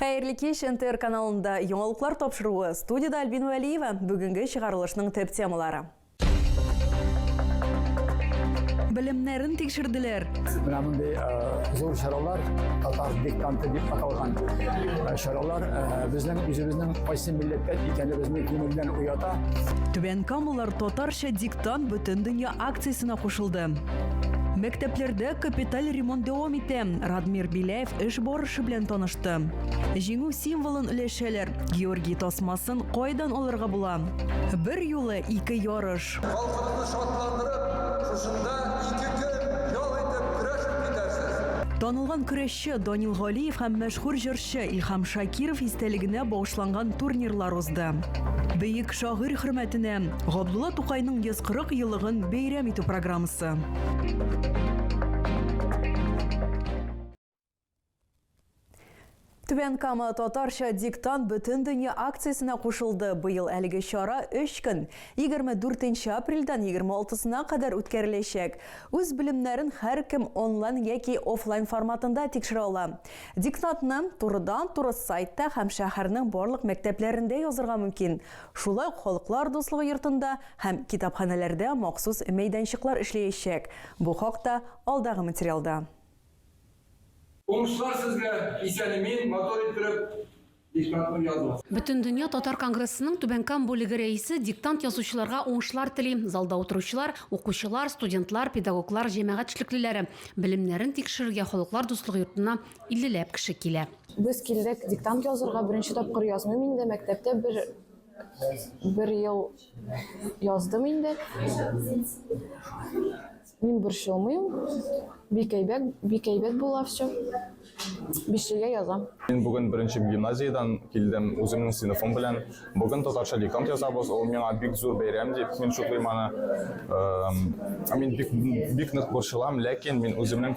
Хәерле кич, НТР каналында яңалыклар тапшыруы. Студияда Альбин Вәлиева. Бүгенге чыгарылышның төп темалары. Белемнәрен тикшерделәр. Менә мондый зур чаралар татар диктанты дип аталган чаралар безнең үзебезнең кайсы милләттән икәнебезне күңелдән уята. Түбән Камалар татарча диктант бөтен дөнья акциясенә кушылды. Мәктәпләрдә капиталь ремонт дәвам итә. Радмир Беляев эш барышы белән танышты. Җиңү символын өләшәләр, Георгий тасмасын кайдан алырга була? Бер юлы ике ярыш. Халкымны шатландырып, шушында ике көн ял итеп көрәш үтеп китәрсез. Танылган көрәшче Данил Галиев һәм мәшһүр җырчы Илһам Шакиров истәлегенә багышланган турнирлар узды. Бөек шагыйрь хөрмәтенә Габдулла Тукайның 140 еллыгын бәйрәм итү программасы. Түбән Кама татарча диктант бөтен дөнья акциясенә кушылды. Быел әлеге чара 3 көн, 24 апрельдән 26-сына кадәр үткәреләчәк. Үз белемнәрен һәркем онлайн яки офлайн форматында тикшерә ала. Диктантны турыдан-туры сайтта һәм шәһәрнең барлык мәктәпләрендә язырга мөмкин. Шулай ук Халыклар дуслыгы йортында һәм китапханәләрдә махсус мәйданчыклар эшләячәк. Бу хакта алдагы материалда. Уңышлар сезгә, исән-имин, матур иттереп диктантны языгыз. Бөтендөнья татар конгрессының Түбән Кам бүлеге рәисе диктант язучыларга уңышлар тели, залда утыручылар, укучылар, студентлар, педагоглар, җәмәгать эшлеклеләре белемнәрен тикшерергә Халыклар дуслыгы йортына иллеләп кеше килә. Без килдек диктант язырга, беренче тапкыр язмыйм инде, мәктәптә бер бер ел яздым инде. Мин борчылмыйм. Бик әйбәт, бик әйбәт була все. Бишлегә язам. Мин бүген беренче гимназиядән килдем үземнең сыйныфым белән. Бүген татарча диктант язабыз. Ул миңа бик зур бәйрәм дип мин шутлыйм аны. Мин бик бик нык борчылам, ләкин мин үземнең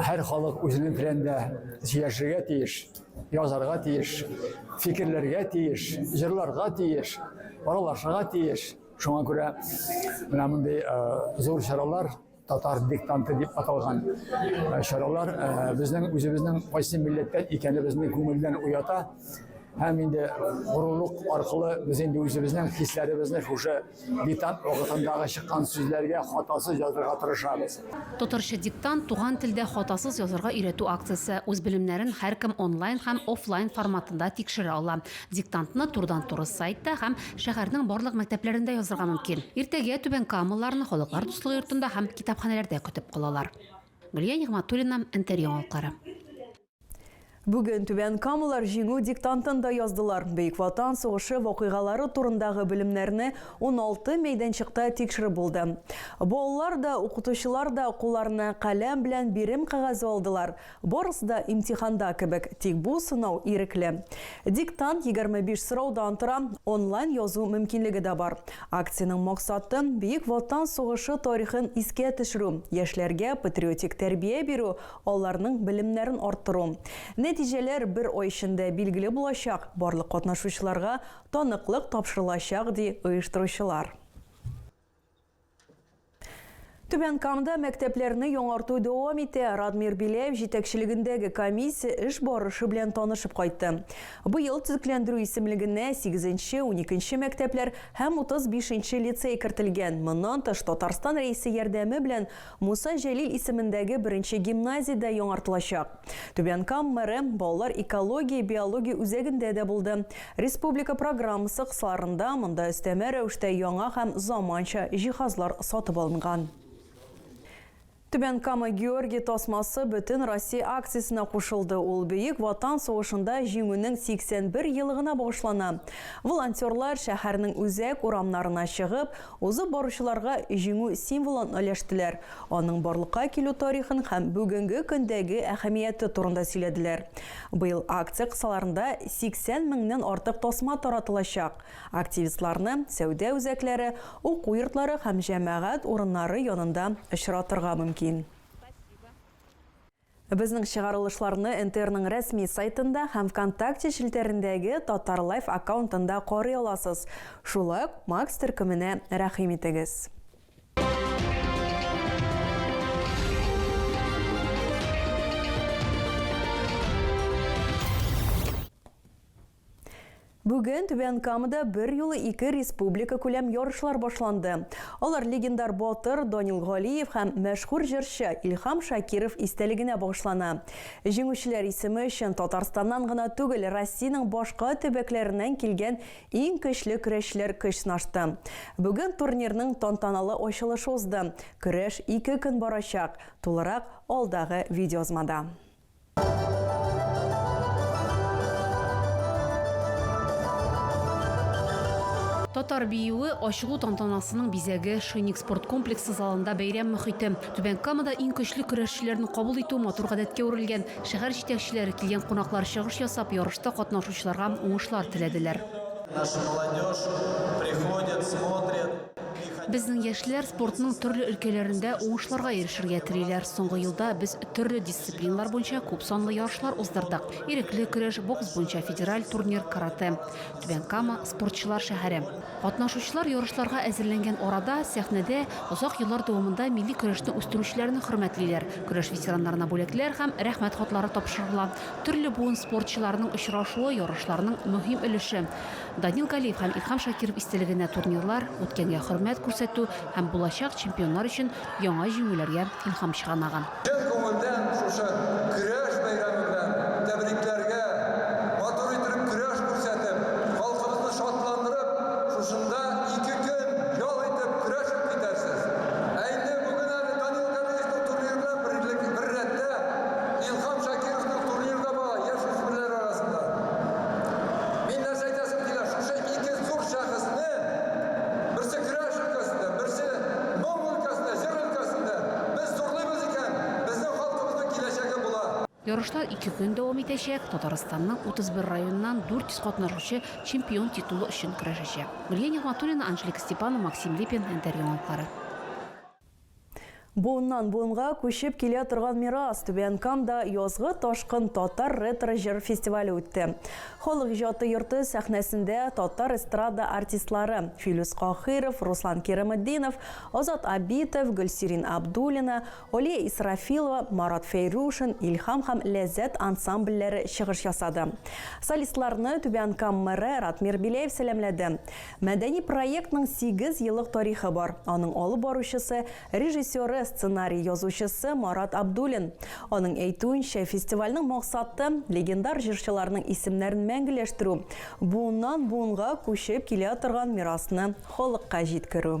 Һәр халык үзенең телендә сөйләшергә тиеш, язарга тиеш, фикерләргә тиеш, җырларга тиеш, аралашырга тиеш. Шуңа күрә менә мондый зур чаралар татар диктанты дип аталган чаралар безнең үзебезнең кайсы милләттән икәнебезне күңелдән уята һәм инде горурлык аркылы без инде үзебезнең хисләребезне шушы Диктант вакытындагы чыккан сүзләргә хатасыз язырга тырышабыз. Татарча диктант туган телдә хатасыз язарга өйрәтү акциясе. Үз белемнәрен һәркем онлайн һәм офлайн форматында тикшерә ала. Диктантны турыдан-туры сайтта һәм шәһәрнең барлык мәктәпләрендә язырга мөмкин. Иртәгә Түбән Камалыларны Халыклар дуслыгы йортында һәм китапханәләрдә көтеп калалар. Гөлия Нигъмәтуллина, Энтер яңалыклары. Бүген Түбән Камалар җиңү диктантын да яздылар. Бөек Ватан сугышы вакыйгалары турындагы белемнәрне 16 мәйданчыкта тикшереп булды. Балалар да, укытучылар да кулларына каләм белән бирем кәгазе алдылар. Барысы да имтиханда кебек, тик бу сынау ирекле. Диктант 25 сораудан тора, онлайн язу мөмкинлеге дә бар. Акциянең максаты, Бөек Ватан сугышы тарихын искә төшерү, яшьләргә патриотик тәрбия бирү, аларның белемнәрен арттыру. Нәтиҗәләр бер ай эчендә билгеле булачак, барлык катнашучыларга таныклык тапшырылачак, ди оештыручылар. Түбән Камада мәктәпләрне яңарту дәвам итә. Радмир Беляев җитәкчелегендәге комиссия эш барышы белән танышып кайтты. Быел төзекләндерү исемлегенә сигезенче, уникенче мәктәпләр һәм утыз бишенче лицей кертелгән. Моннан тыш, Татарстан Рәисе ярдәме белән Муса Җәлил исемендәге беренче гимназия дә яңартылачак. Түбән Кам мэры балалар экология-биология үзәгендә дә булды. Республика программасы кысаларында монда өстәмә рәвештә яңа һәм заманча җиһазлар сатып алынган. Түбән Кама Георгий тасмасы бөтен Россия акциясенә кушылды. Ул Бөек Ватан сугышында Җиңүнең 81 елыгына багышлана. Волонтерлар шәһәрнең үзәк урамнарына чыгып, Узып баручыларга Җиңү символын өләштеләр, аның барлыкка килү тарихын һәм бүгенге көндәге әһәмияте турында сөйләделәр. Быел акция кысаларында 80 меңнән артык тасма таратылачак, активистларны сәүдә үзәкләре, уку йортлары һәм җәмәгать урыннары янында очратырга мөмкин. Безнең чыгарылышларны НТРның рәсми сайтында һәм Вконтакте челтәрендәге Татарлайф аккаунтында карый аласыз. Шулай ук Макс төркеменә рәхим итегез. Бүген Түбән Камада берьюлы ике республика күләм ярышлар башланды. Алар легендар батыр Данил Галиев һәм мәшһүр җырчы Илһам Шакиров истәлегенә багышлана. Җиңүчеләр исеме өчен Татарстаннан гына түгел, Россиянең башка төбәкләреннән килгән иң көчле көрәшчеләр көч сынашты. Бүген турнирның тантаналы ачылышы узды. Көрәш ике көн барачак. Тулырак алдагы видеоязмада. Татар биюе, ачылу тантанасының бизәге, Шинник спорт комплексы залында бәйрәм мохите. Түбән Камада иң көчле көрәшчеләрне кабул итү матур гадәткә үрелгән. Шәһәр җитәкчеләре, килгән кунаклар чыгыш ясап, ярышта катнашучыларга уңышлар теләделәр. Наша молодежь приходят, смотрят. Безнең яшьләр спортның төрле өлкәләрендә уңышларга ирешергә телиләр. Соңгы елда без төрле дисциплиналар буенча күп санлы ярышлар уздырдык. Ирекле көрәш, бокс буенча федераль турнир, каратэ. Түбән Кама, спортчылар шәһәре. Катнашучылар ярышларга әзерләнгән арада, сәхнәдә озак еллар дәвамында милли көрәшне үстерүчеләрне хөрмәтлиләр, көрәш ветераннарына бүләкләр һәм Рәхмәт хатлары тапшырыла. Төрле буын спортчыларының очрашуы, ярышларның мөһим өлеше. Данил Галиев һәм Илһам Шакиров истәлегенә турнирлар, үткәнгә хөрмәт күрсәтү һәм булачак чемпионнар өчен яңа җиңүләргә илһам чыганагы. Чын күңелдән шушы Көрәш бәйрәме белән тәбрикләргә! Матур итеп көрәш күрсәтеп, халкыбызны шатландырып, шушында ике көн ял итеп, көрәшеп китәрсез. Ә инде бүген әле Данил Галиевның турниры белән берлек, бер рәттә, Илһам Шакировның турниры да бара, яшь үсмерләр арасында. Мин нәрсә әйтәсем килә, шушы ике зур шәхесне, берсе көрәш өлкәсендә, берсе моң өлкәсендә, җыр өлкәсендә, без зурлыйбыз икән, безнең халкыбызның киләчәге була. Ярышлар ике көн дәвам итәчәк. Татарстанның 31 районыннан 400 катнашучы чемпион титулы өчен көрәшәчәк. Гөлия Нигъмәтуллина, Анжелика Степанова, Максим Липин, Интеръяңалыклары. Буыннан буынга күчеп килә торган мирас, Түбән Камда язгы ташкын татар ретро җыр фестивале үтте. Халык иҗаты йорты сәхнәсендә татар эстрада артистлары, Филүс Каһыйров, Руслан Кирамытдинов, Азат Абитов, Гөлсирин Абдуллина, Алия Исрафилова, Марат Фәйрушин, Илһам һәм Ләззәт ансамбльләре чыгыш ясады. Солистларны Түбән Кам мэры Ратмир Беляев сәламләде. Мәдәни проектның сигез еллык тарихы бар. Аның алып баручысы, режиссеры, сценарий язучысы Марат Абдуллин. Аның әйтүенчә, фестивальнең максаты, легендар җырчыларның исемнәрен мәңгеләштерү, буыннан буынга күчеп килә торган мирасны халыкка җиткерү.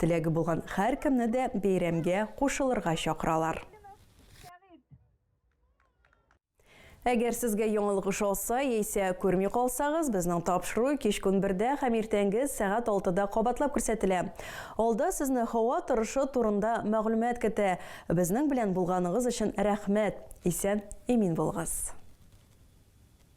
Теләге булган һәркемне дә бәйрәмгә кушылырга чакыралар. Әгәр сезгә яңалык ошаса, яисә күрми калсагыз, безнең тапшыру кич көн бердә һәм иртәнге сәгать алтыда кабатлап күрсәтелә. Алда сезне һава торышы турында мәгълүмат көтә. Безнең белән булганыгыз өчен рәхмәт! Исән-имин булыгыз!